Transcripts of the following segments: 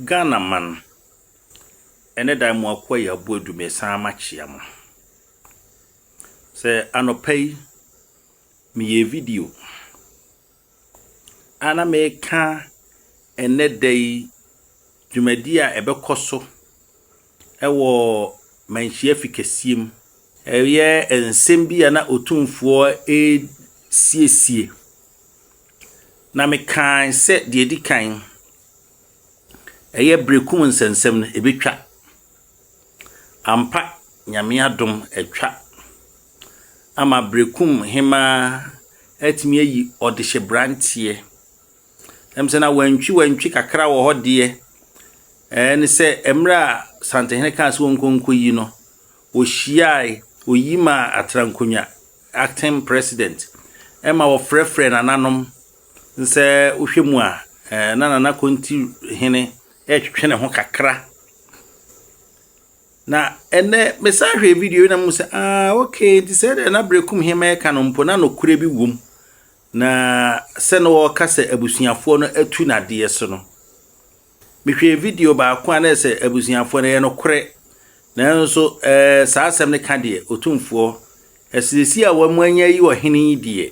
Ghanaman, ɛnnɛ da yi mo akoa yi abu adu mesan makyea mo. Sɛ anɔpa yi meyɛ video a na meka ɛnnɛ da yi dwumadi a ɛbɛkɔ so wɔ manhyia fi kɛseɛ mu. Ɛyɛ nsɛm bi a na Otumfoɔ resiesie, na mekae sɛ deɛ ɛdi kan, ɛyɛ berekum nsɛnsɛm no, ɛbɛtwa. Ampa, Nyame adom, atwa ama berekum hemaa atumi ayi ɔdehyɛbranteɛ Ɛm sɛ na wantwi wantwi kakra wɔ hɔ deɛ ɛɛ ne sɛ mmerɛ a Santehene kaa sɛ wɔnkɔ nkɔ yi no wɔhyiae oyi ma Atrankonwa acting president ɛma wɔfrɛfrɛ nananom nsɛ wohwɛ mu a ɛɛ na nana konti hene ɛretwetwe ne ho kakra na ɛnɛ mesan hwɛ video na mu sɛ ah okay nti sɛ ɛna berekum hema ɛka no mpo na nokorɛ bi wom Na sɛ na ɔreka sɛ abusuafoɔ no atu no adeɛ so no, mehwɛɛ video baako a na ɛsɛ abusuafoɔ no ɛyɛ nokorɛ. Nanso ɛɛ saa asɛm no ka deɛ Otumfoɔ asiesie a wɔn anya yi ɔhene yi deɛ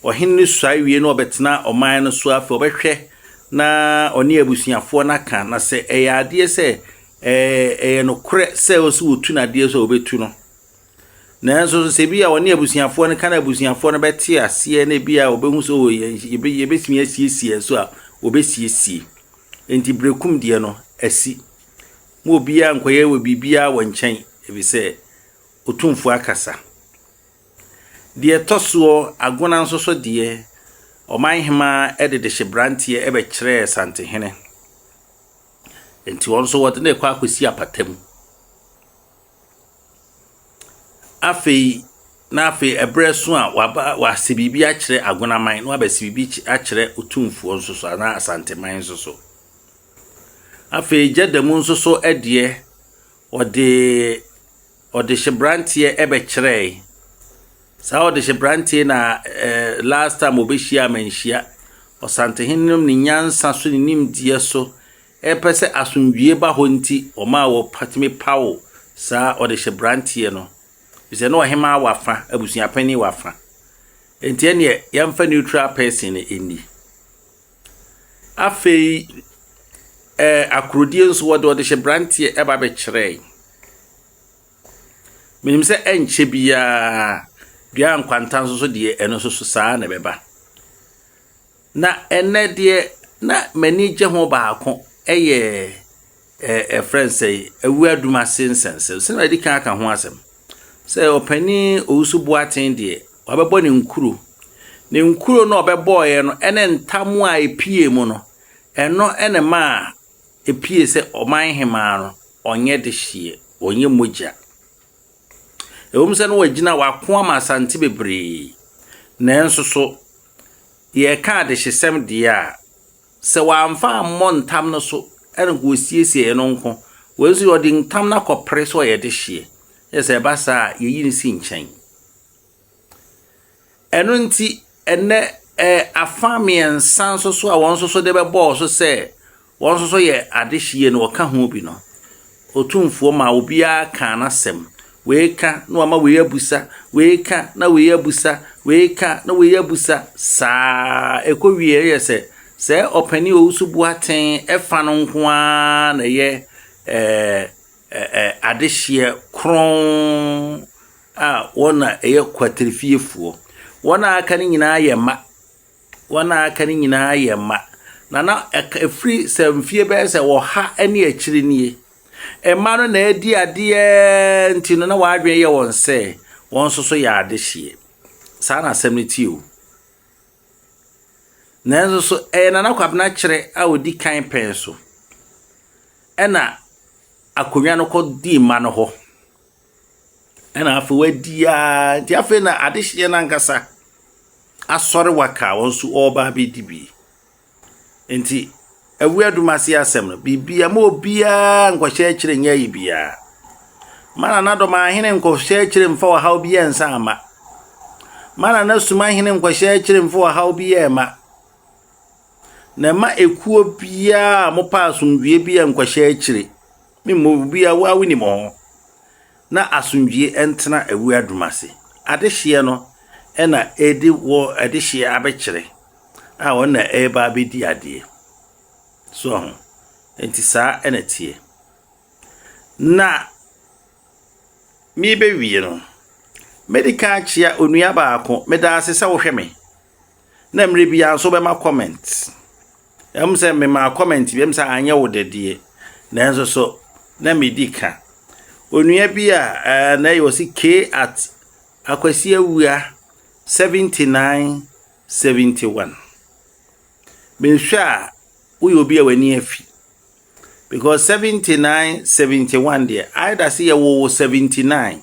ɔhene no suae wie na ɔbɛtena ɔman no so afei ɔbɛhwɛ na ɔne abusuafoɔ no aka na sɛ ɛyɛ adeɛ sɛ ɛɛ ɛyɛ nokorɛ sɛ ɔsi wɔtu no adeɛ so a wɔbɛtu no. Nanso nso sɛ ebia ɔne abusuafoɔ no ka na abusuafoɔ no bɛte aseɛ na ebia wɔbɛhu sɛ oh, yɛn- yɛbɛ- yɛbɛtumi asiesie nso a wɔbɛsiesie enti berɛkum deɛ no asi ma obiara nkɔyɛ wɔ biribiara wɔ nkyɛn ɛfiri sɛ ɔtumfoɔ akasa deɛ ɛtɔ soɔ agona nso so deɛ ɔman hema de de hye branteɛ ɛbɛkyerɛɛ santehene enti wɔn nso wɔde no kɔ akɔsi apata mu Afei na afei ɛberɛ so a waba wase biribi akyerɛ Agonaman na wabɛse biribi akyerɛ Otumfoɔ nso so anaa Asanteman nso so. Afei Gyadamu nso so deɛ, wɔde ɔdehyeberanteɛ bɛkyerɛɛe. Saa ɔdehyeberanteɛ yi na ɛɛ last time wɔbɛhyiaa manhyia. Ɔsantehene no ne nyansa so ne nimdeɛ so Ɛpɛ sɛ asomdwie ba hɔ nti ɔmaa wɔtumi paw saa ɔdehyebranteɛ no, efisɛ na ɔhemmaa wɔ afã, abusua panin wɔ afã. Enti ɛnneɛ yɛmfa neutral person no nni. Afei ɛɛ akorodie nso wɔde ɔdehyebranteɛ ɛba bɛkyerɛe. Menim sɛ ɛnkyɛ biara dua nkwanta nso so deɛ ɛno nso so saa na ɛbɛba. Na ɛnnɛ deɛ na m'ani gye ho baako yɛ ɛ ɛfrɛ no sɛn awuradum ase nsɛnsɛm sɛdeɛ madi kan aka ho asɛm sɛ ɔpanin Owusu Boateng deɛ wabɛbɔ ne nkuro ne nkuro no a ɔbɛbɔeɛ no ne ntam a ɛpie mu no ɛno ne ma a ɛpie sɛ ɔman hemaa no ɔnyɛ de hyeɛ ɔnyɛ mogya ɛwom sɛ no wagyina wako ama asante bebree nanso so Yɛreka adehyesɛm deɛ a, sɛ wamfa ammɔ ntam no so na nka ɔsiesie ɛno nko. Wei nso ɔde ntam no akɔpere sɛ ɔyɛ dehyeɛ. Yɛ sɛ ɛba saa a, yɛyi no si nkyɛn. Ɛno nti, ɛnɛ ɛɛ afa mmiɛnsa nso so a wɔn nso so de bɛbɔɔ so sɛ Wɔn nso so yɛ adehyeɛ no wɔka ho bi no Otumfoɔ maa obiara kaa n'asɛm wei ka na wama wei abusa wei ka na wei abusa wei ka na wei abusa saa ɛkɔ wie yɛ sɛ sɛ ɔpani owusu boaten ɛfa no nko ara na ɛyɛ ɛɛ ɛɛ adehyeɛ kron a wɔn na ɛyɛ kwatirifiefoɔ wɔn a aka no nyinaa yɛ mma Wɔn a aka no nyinaa yɛ mma, na na ɛfiri sɛ mfeɛ bɛyɛ sɛ ɔha ne akyiri nie. Mma no na adi adeɛ nti no, na wɔn adwene yɛ wɔn sɛ wɔn nso so yɛ adehyeɛ. Saa na asɛm no te o. Nanso so ɛyɛ Nana Kwabena Kyerɛ a ɔdi kan pɛn so ɛna akonnwa no kɔdi mma no hɔ. Ɛna afei wadi a nti afei na adehyeɛ no ankasa asɔre waka wɔn nso ɔreba abɛdi bi nti awia dum ase asɛm no biribia ma obiara nkɔhyɛ akyire nyɛ ayi biara ma na nadɔm ahene nkɔhyɛ akyire mfa ɔhaw bi yɛ nsa ama ma na nasum ahene nkɔhyɛ akyire mfa ɔhaw bi yɛ ma na ɛma ekuo biara a mopɛ asomdwoeɛ bi a nkɔhyɛ akyire Me mmɔ wo biaa wo a wo nim ho. Na asomdwie ntena awura dum ase. Adehyeɛ no na ɛde wɔ adehyeɛ abɛkyerɛ a ɔno na ɛreba abɛdi adeɛ. So ɔho? Nti saa na teɛ. Na merebɛwie no, mɛdi kan akyea onua baako, meda ase sɛ wohwɛ me. na mmerɛ biara nso wobɛma comment ɛm sɛ memaa comment bi ɛm sɛ anyɛ wo dɛ deɛ nanso so na medi ka onua bi a ɛɛ na ɛyɛ ɔsi k at akwasi awua 79 71 mehwɛ a woyɛ obi a w'ani afi because 79 71 deɛ ayɛ da se yɛwɔ wɔ 79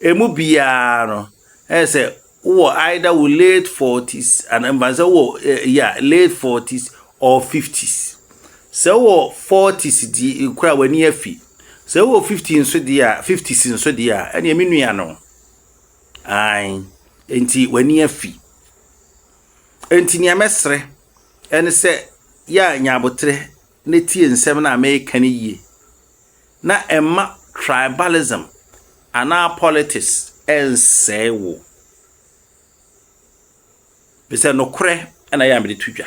Emu biara no, ɛyɛ sɛ wowɔ either wo late forties anaa mba sɛ wowɔ eh, yeah, late forties or fifties. Sɛ wowɔ forties di kura w'ani afi. Sɛ wowɔ fifty nso deɛ a, fifties nso deɛ a, ɛnneɛ me nua no. Ae, nti w'ani afi. Nti nea mɛsrɛ ɛne sɛ yɛ a nya aboterɛ na tie nsɛm no a mereka no yie na mma tribalism anaa politics nsɛe wo. Efisɛ nokorɛ na ɛyɛ a mede to dwa.